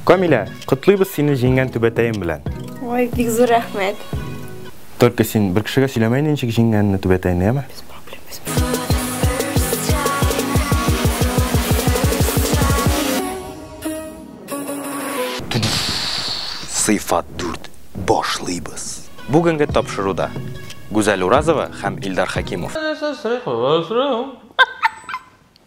Камилә, котлыйбыз сине җиңгән түбәтәем белән. Ой, бик зур рәхмәт. Только син бер кешегә сөйләмә инде ничек җиңгәнне түбәтәйне, яме? Без проблем, без Сыйфат 4. Башлыйбыз. Бүгенге тапшыруда Гүзәл Уразова һәм Илдар Хәкимов.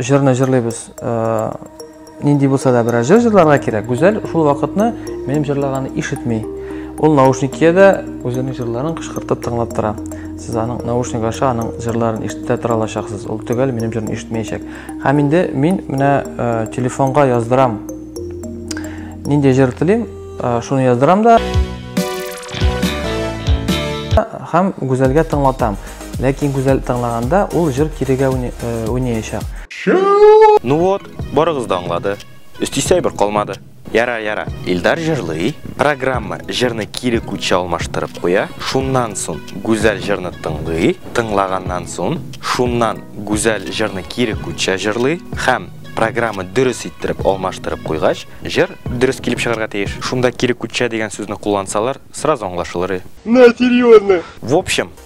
Җырны җырлыйбыз. Э, нинди булса да берәр җыр җырларга кирәк. Гүзәл шул вакытны минем җырлаганны ишетми. Ул наушник киядә үзенең җырларын кычкыртып тыңлап тора. Сез аның наушник аша аның җырларын ишетә тора алачаксыз. Ул төгәл минем җырны ишетмәячәк. Һәм инде мин менә э, телефонга яздырам. Нинди җыр телим, э, шуны яздырам да. Һәм Гүзәлгә тыңлатам. Ләкин гүзәл тыңлаганда ул җыр кирегә уйнаячак. Ну вот, барыгыз да аңлады. Өстисә бер калмады. Яра, яра. Илдар җырлый, программа җырны кире күчә алмаштырып куя. Шуннан сон гүзәл җырны тыңлый, тыңлаганнан сон шуннан гүзәл җырны кире күчә җырлый һәм программа дөрес иттереп алмаштырып куйгач, җыр дөрес килеп чыгарга тиеш. Шунда кире күчә дигән сүзне куллансалар, сразу аңлашылыр. На, серьезно. В общем,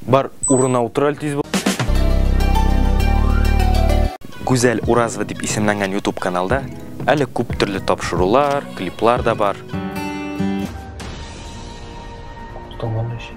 Бар, урына утыр әле тиз бул. Гүзәл Уразова дип исемләнгән YouTube каналда әле күп төрле тапшырулар, клиплар да бар. Томан өчен.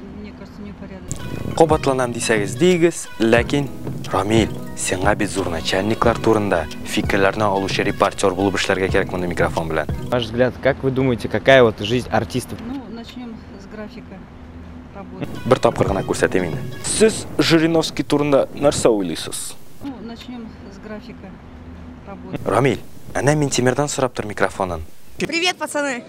Кабатланам дисәгез дигез, ләкин Рамил, сиңа бит зур начальниклар турында фикерләрне алучы репортер булып эшләргә кирәк мондый микрофон белән. Ваш взгляд, как вы думаете, какая вот жизнь артиста? Ну, начнем с графика работы. Бер тапкыр гына күрсәтим инде. Сез Жириновский турында нәрсә уйлыйсыз? Ну, начнем с графика работы. Рамил, әнә Минтимердан сорап тор микрофонын. Привет, пацаны!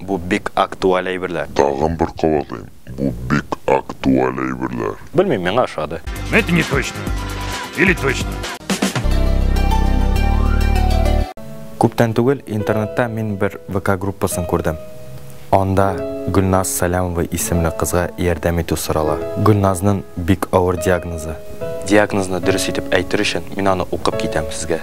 Бу бик актуаль әйберләр. Тагын бер кабатлыйм, бу бик актуаль әйберләр. Белмим, миңа ошады. Но это не точно. Или точно. Күптән түгел интернетта мин бер ВК группасын күрдем. Анда Гөлназ Сәләмова исемле кызга ярдәм итү сорала. Гөлназнын бик авыр диагнозы. Диагнозны дөрес итеп әйтер өчен мин аны укып китәм сезгә.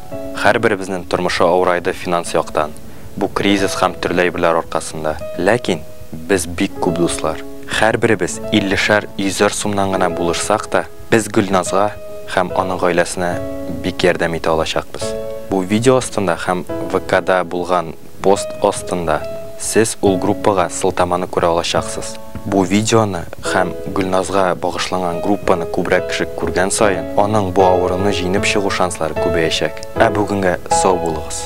Һәрберебезнең тормышы авырайды финанс яктан, бу кризис һәм төрле әйберләр аркасында. Ләкин без бик күп дуслар. Һәрберебез иллешәр, йөзәр сумнан гына булышсак та, без Гөлназга һәм аның гаиләсенә бик ярдәм итә алачакбыз. Бу видео астында һәм ВКда булган. Пост астында Сез ул группага сылтаманы күрә алачаксыз. Бу видеоны һәм Гөлназга багышланган группаны күбрәк кеше күргән саен, аның бу авыруны җиңеп чыгу шанслары күбәячәк. Ә бүгенгә сау булыгыз!